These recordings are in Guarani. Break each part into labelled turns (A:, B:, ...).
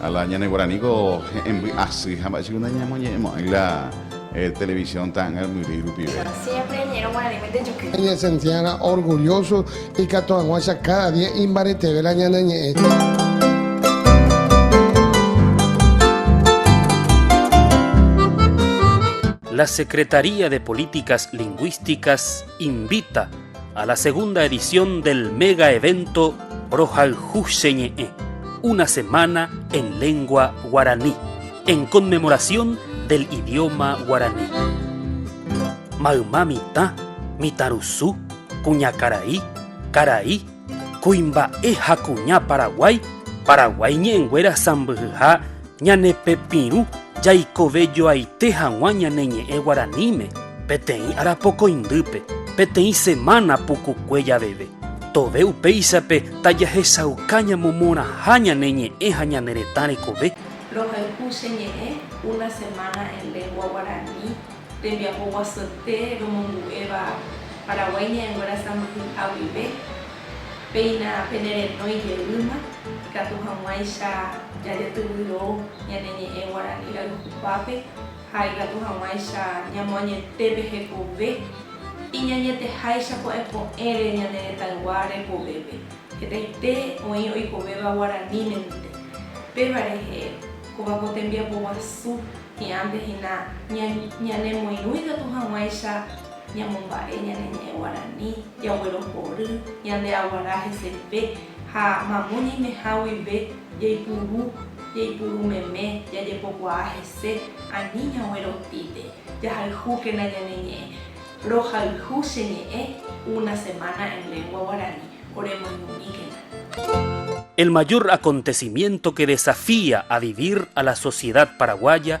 A: Ha la
B: ñane guaraníko he'ẽmby asy ha mba'e che kunda ñamoñe'ẽmo'ãi la televisión ta'ãngarmyry rupive. Siémpre ñe'ẽrõ guaranímente
C: juky. Eñesentiárã
D: orgulloso ikatu hag̃uáicha káda día imbaretevérõ ñane ñe'ẽ.
E: La Secretaría de Políticas Lingüísticas invita A la segunda edición del mega evento Rohayhu che ñe'ẽ, una semana en lengua guaraní, en conmemoración del idioma guaraní. Mayma mitã, mitãrusu, kuñakarai, karai, kuimba'e ha kuña Paraguái, Paraguái ñe'ẽnguéra sãmbyhyha Ñane pepirũ jaikovejoaite hag̃ua ñane ñe'ẽ guaraníme peteĩ arapokõindýpe, peteĩ semana pukukue javeve. Tove upéichape tajahechauka ñamomorãha ñane ñe'ẽ ha ñane retã rekove. Rohayhu che ñe'ẽ
F: Una semana en lengua guarani tembiapoguasuete romongu'éva Paraguái ñe'ẽnguéra sãmbyhyha guive. Péina penerenói jeýma, ikatu hag̃uáicha jajetyvyro ñane ñe'ẽ guarani rayhupápe ha ikatu hag̃uáicha ñamoañete pe hekove iñañeteháicha ko'ẽko'ẽre ñane retãygua rekovépe. Hetaite oĩ oikovéva guaranímente. Péva rehe, kóva ko tembiapoguasu hi'ãntehína ñanemoirũ ikatu hag̃uáicha. Ñamomba'e ñane ñe'ẽ guarani, jaguerohory ñande aguara hesepe ha mamo ñaimeha guive jaipuru, jaipuru meme, jajepokuaa hese ani ñagueropípe. Jahayhúkena ñane ñe'ẽ. Rohayhu che ñe'ẽ una semana en lengua guarani. Oremoirũmíkena. El mayor
E: acontecimiento que desafía a vivir a la sociedad paraguaya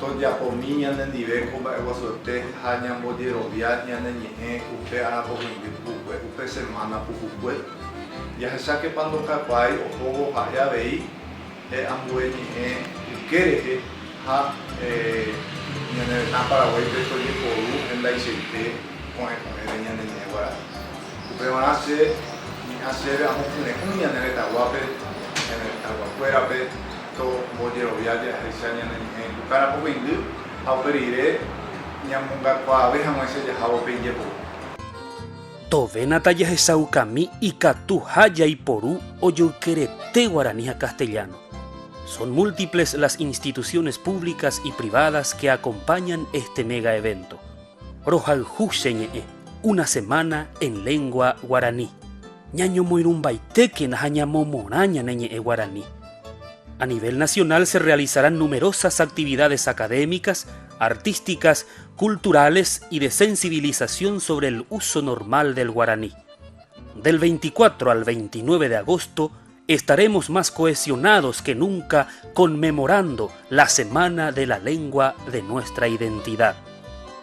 G: Tojapomi ñanendive ko mba'eguasuete ha ñambojerovia ñane ñe'ẽ upe arapohendy pukukuépe, upe semana pukukue. Jahechákepa ndokakuaái ohóvo ha'e avei pe ambue ñe'ẽ yke rehe ha ñane retã Paraguáipe tojeporu hendaichaite ko'ẽko'ẽre ñane ñe'ẽ guarani. Upevarã che mi'ã chéve amokyre'ỹ ñane retãguápe, ñane retãguakuérape, tombojerovia jahecha ñane ñe'ẽ Kukára Pokõindy ha upe rire ñamongakuaave hag̃uáicha jahávo pe ijepuru.
E: Tovénata jahechaukami ikatuha jaiporu ojoykerete guarani ha castellano. Son múltiples las instituciones públicas y privadas que acompañan este mega evento. Rohayhu che ñe'ẽ Una semana en lengua guarani. Ñañomoirũmbaitékena ha ñamomorã ñane ñe'ẽ guarani. A nivel nacional se realizarán numerosas actividades académicas, artísticas, culturales y de sensibilización sobre el uso normal del guaraní. Del 24 al 29 de agosto Estaremos más cohesionados que nunca conmemorando la semana de la lengua de nuestra identidad.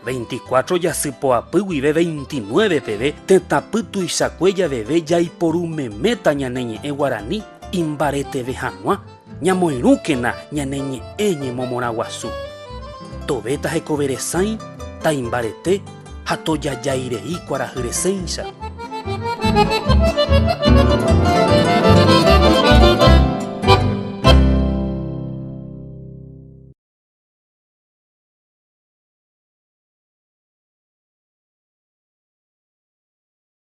E: 24 jasypoapy guive 29 peve tetãpy tuichakue javeve jaiporu meméta ñane ñe'ẽ guarani imbareteve hag̃ua, ñamoirũkena ñane ñe'ẽ ñemomorãguasu. Tovéta hekove resãi, taimbarete, Ha tojajái rei kuarahy resẽicha.